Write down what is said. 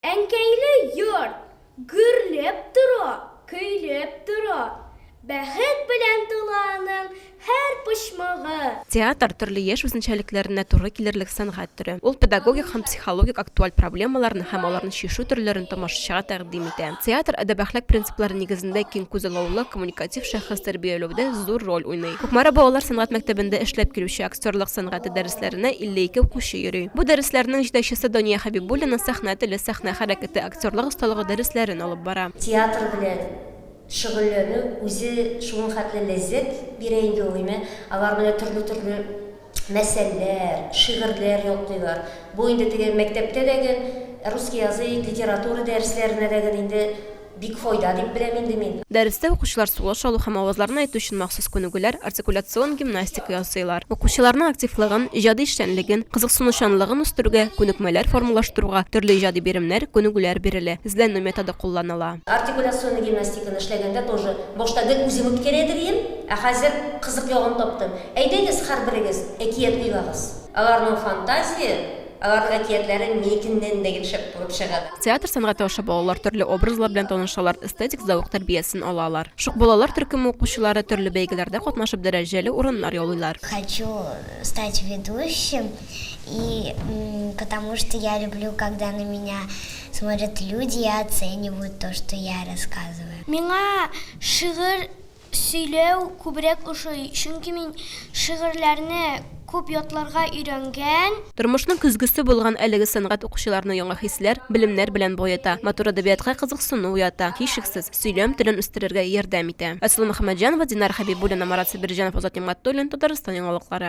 Әнкәйле йорт гөрләп тора, көйләп тора. Бәхет белән тула аның һәр почмагы. Театр, төрле яшь үзенчәлекләренә туры килерлек сәнгать төре. Ул педагогик һәм психологик актуаль проблемаларны һәм аларны чишү төрләрен тамашачыга тәкъдим итә. Театр әдәп-әхлак принциплары нигезендә киң күзаллаулы, коммуникатив шәхес тәрбияләүдә зур роль уйный. Кукмара балалар сәнгать мәктәбендә эшләп килүче актерлык сәнгате дәреслекләре дәресләренә 52 укучы йөри. Бу дәресләрнең җитәкчесе Дания Хәбибуллина сәхнә теле, сәхнә хәрәкәте, актерлык осталыгы дәресләрен алып бара. Театр белән шөгыльләнү үзе шуның хәтле ләззәт бирә инде ул, име, алар менә төрле-төрле мәсәлләр, шигырьләр ятлыйлар. Бу инде теге мәктәптә дә гел, русский язык, литература дәресләренә дә гел инде. Бик файда дип беләм инде мин. Дәрестә укучылар сулыш алу һәм авазларны әйтү өчен махсус күнегүләр, артикуляцион гимнастика ясыйлар. Укучыларның активлыгын, иҗади эшчәнлеген, кызыксынучанлыгын үстерүгә күнекмәләр формалаштыруга төрле иҗади биремнәр, күнегүләр бирелә, эзләнү методы кулланыла. Артикуляцион гимнастиканы эшләгәндә тоже башта гел үзем үткәрә дидем, ә хәзер кызык ягын таптым. Әйдәгез, һәрберегез әкият уйлагыз. Аларның фантазия. Аларның әкиятләре никеннән дә гел шәп булып чыга. Театр сәнгате аша балалар төрле образлар белән танышалар, эстетик зәвык тәрбиясен алалар. Шук балалар төркеме укучылары төрле бәйгеләрдә катнашып дәрәҗәле урыннар яулыйлар. Хочу стать ведущим и потому что я люблю когда на меня смотрят люди и оценивают то что я рассказываю. Миңа шигырь Сөйләү күбрәк ошый, чөнки мин шигырьләрне күп ятларга өйрәнгән. Тормышның көзгесе булган әлеге сәнгать укучыларны яңа хисләр, белемнәр белән баета, матур әдәбиятка кызыксыну уята, һичшиксез, сөйләм телен үстерергә ярдәм итә. Асылы Мөхәммәтҗанова, Динар Хәбибуллина, Марат Сабирҗанов, Азат Нигъмәтуллин, Татарстан яңалыклары.